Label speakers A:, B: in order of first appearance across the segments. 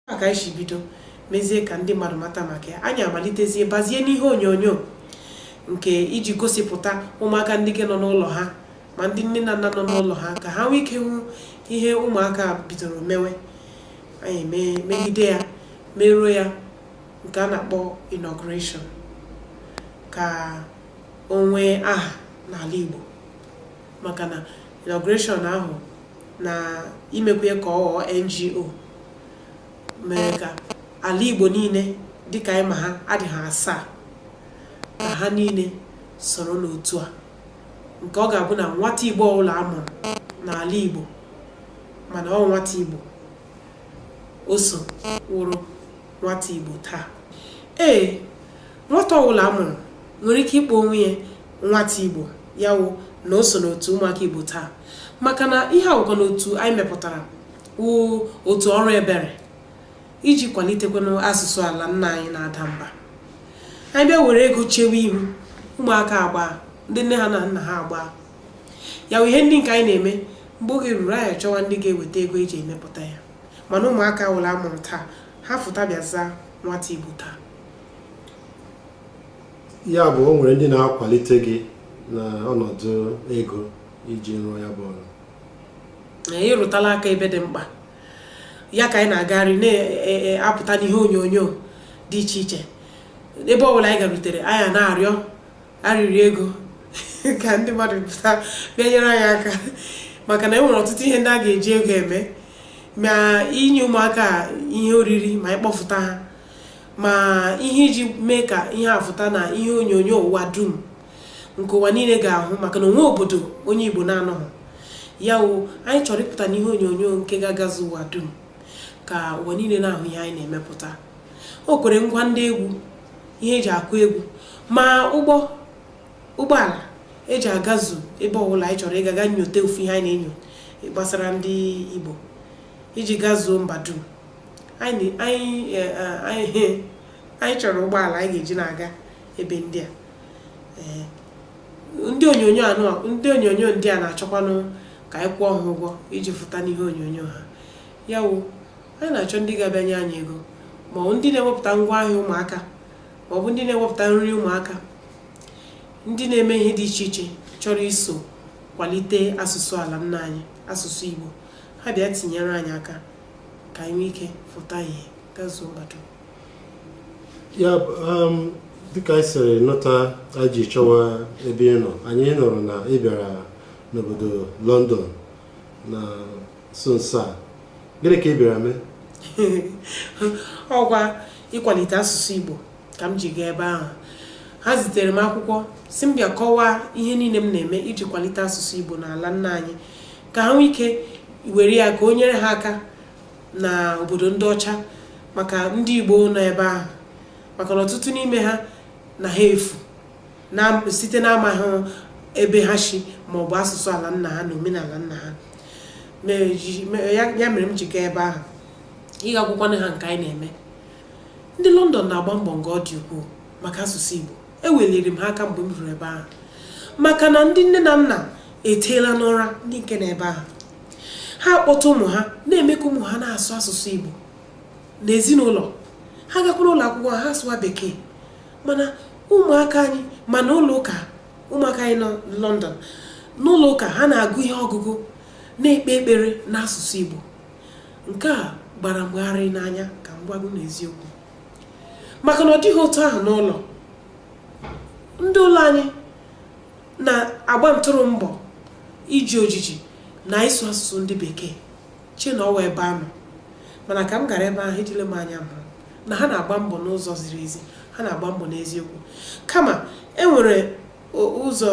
A: a ka anyị si bido mezie ka ndị mmadụ mata maka ya anyị amalitezie bazie n'ihe onyonyo nke iji gosipụta ụmụaka ndị nke nọ n'ụlọ ha ma ndị nne na nna nọ n'ụlọ ha ka ha nwee ike hụ ihe ụmụaka bidoro mewe anyị megide ya meruo ya nke a na-akpọ inauguration ka o nwee aha n'ala Igbo maka na inauguration ahụ na imekwa ya ka ọ ghọọ NGO mere ka ala Igbo niile dịka anyị ma ha dị ha asaa ka ha niile soro n'otu a nke ọ ga-abụ na nwata Igbo ọbụla a mụrụ n'ala Igbo mana ọ wụ nwata Igbo o so wụrụ nwata Igbo taa ee nwata ọbụla a mụrụ nwere ike ịkpọ onwe ya nwata Igbo ya wụ na o so n'otu ụmụaka Igbo taa maka na ihe a wụkwanụ otu anyị mepụtara wụ otu ọrụ ebere iji kwalitekwanụ asụsụ ala nna anyị na-ada mba anyị bịa were ego chewe ihu ụmụaka agbaa ndị nne ha na nna ha agbaa ya wụ ihe ndị nke anyị na-eme mgbe oge ruru anyị achọwa ndị ga-eweta ego eji emepụta ya mana ụmụaka ọbụla a mụrụ taa ha fụta bịa zaa nwata Igbo taa
B: ya bụ o nwere ndị na-akwalite gị na ọnọdụ ego iji rụọ ya bụ ọrụ
A: ị rụtala aka ebe dị mkpa ya ka anyị na-agagharị na-apụta e, e, n'ihe onyonyo dị iche iche ebe ọ bụla anyị garutere anyị na-arịọ arịrịọ ego ka ndị mmadụ pụta bịa nyere anyị aka maka na e nwere ọtụtụ ihe ndị a ga-eji ego eme ma inye ụmụaka ihe oriri ma ịkpọfụta ha ma ihe iji mee ka ihe a fụta na ihe onyonyo ụwa dum nke ụwa niile ga-ahụ maka na o nwee obodo onye Igbo na-anọghị ya wụ anyị chọrọ ịpụta n'ihe onyonyo nke ga-agazu ụwa dum ka ụwa niile na-ahụ ihe anyị na-emepụta o kwere ngwa ndị egwu ihe e ji akụ egwu ma ụgbọ ụgbọala e ji agazu ebe ọbụla anyị chọrọ ịga ga nyote ofu ihe anyị na-enyo gbasara ndị Igbo iji gazuo mba dum anyị chọrọ ụgbọala anyị ga-eji na-aga ebe ndị a ndị onyonyo ndị a na-achọkwanụ ka anyị kwụọ ha ụgwọ iji fụta n'ihe onyonyo ha ya wụ anyị na-achọ ndị ga-abịa nye anyị ego ma ọ ndị na-ewepụta ngwa ahịa ụmụaka ma ọ bụ ndị na-ewepụta nri ụmụaka ndị na-eme ihe dị iche iche chọrọ iso kwalite asụsụ ala nna anyị asụsụ Igbo ha bịa tinyere anyị aka ka anyị nwee ike fụta ihe gazuo
B: mmadụ ya um, dịka anyị siri nụta anyị ji chọwa ebe ị nọ anyị nụrụ na ị bịara n'obodo London na nso nso a gịnị ka ị bịara mee
A: ọ kwa ịkwalite asụsụ Igbo ka m ji gaa ebe ahụ ha zitere m akwụkwọ sị m bịa kọwaa ihe niile m na-eme iji kwalite asụsụ Igbo n'ala nna anyị ka ha nwee ike were ya ka o nyere ha aka na obodo ndị ọcha maka ndị Igbo nọ ebe ahụ maka na ọtụtụ n'ime ha na ha efu site n'amaghị ebe ha si ma ọ bụ asụsụ ala nna ha na omenala nna ha ya mere m ji gaa ebe ahụ ịga akwụkwọ ha nke anyị na-eme Ndị London na-agba mbọ nga ọ dị ukwuu maka asụsụ Igbo. Eweliri m ha aka mgbe m ruru ebe ahụ maka na ndị nne na nna eteela n'ụra ndị nke nọ ebe ahụ. Ha akpọta ụmụ ha na-eme ka ụmụ ha na-asụ asụsụ Igbo n'ezinụlọ. Ha gakwuru ụlọ akwụkwọ ha asụwa Bekee mana ụmụaka anyị ma n'ụlọ ụka ụmụaka anyị nọ London n'ụlọ ụka ha na-agụ ihe ọgụgụ na-ekpe ekpere n'asụsụ Igbo nke a gbara m gharịị n'anya ka m gwa gị n'eziokwu maka na ọ dịghị otu ahụ n'ụlọ ndị ụlọ anyị na-agba ntụrụ mbọ iji ojiji na ịsụ asụsụ ndị bekee chee na ọ wụ ebe a nọ mana ka m gara ebe ahụ ejile m anya m hụ na ha na-agba mbọ n'ụzọ ziri ezi ha na-agba mbọ n'eziokwu kama e nwere ụzọ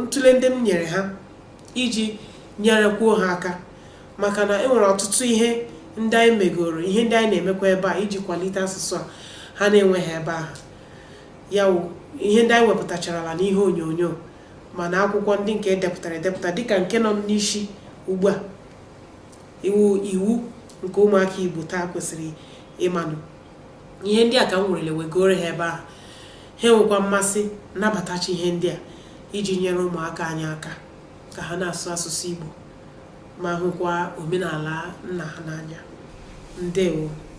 A: ntụle ndị m nyere ha iji nyerekwuo ha aka maka na e nwere ọtụtụ ihe ndị anyị megoro ihe ndị anyị na-emekwa ebe a iji kwalite asụsụ a ha na-enweghị ebe ahụ ya wụ ihe ndị anyị wepụtacharala n'ihe onyonyo ma n'akwụkwọ ndị nke e depụtara edepụta dịka nke nọ m n'isi ugbu a iwu iwu nke ụmụaka Igbo taa kwesịrị ịmanụ ihe ndị a ka m werele wegoro ha ebe ahụ ha enwekwa mmasị nabatachaa ihe ndị a iji nyere ụmụaka anyị aka ka ha na-asụ asụsụ Igbo ma hụkwa omenala nna ha n'anya ndewo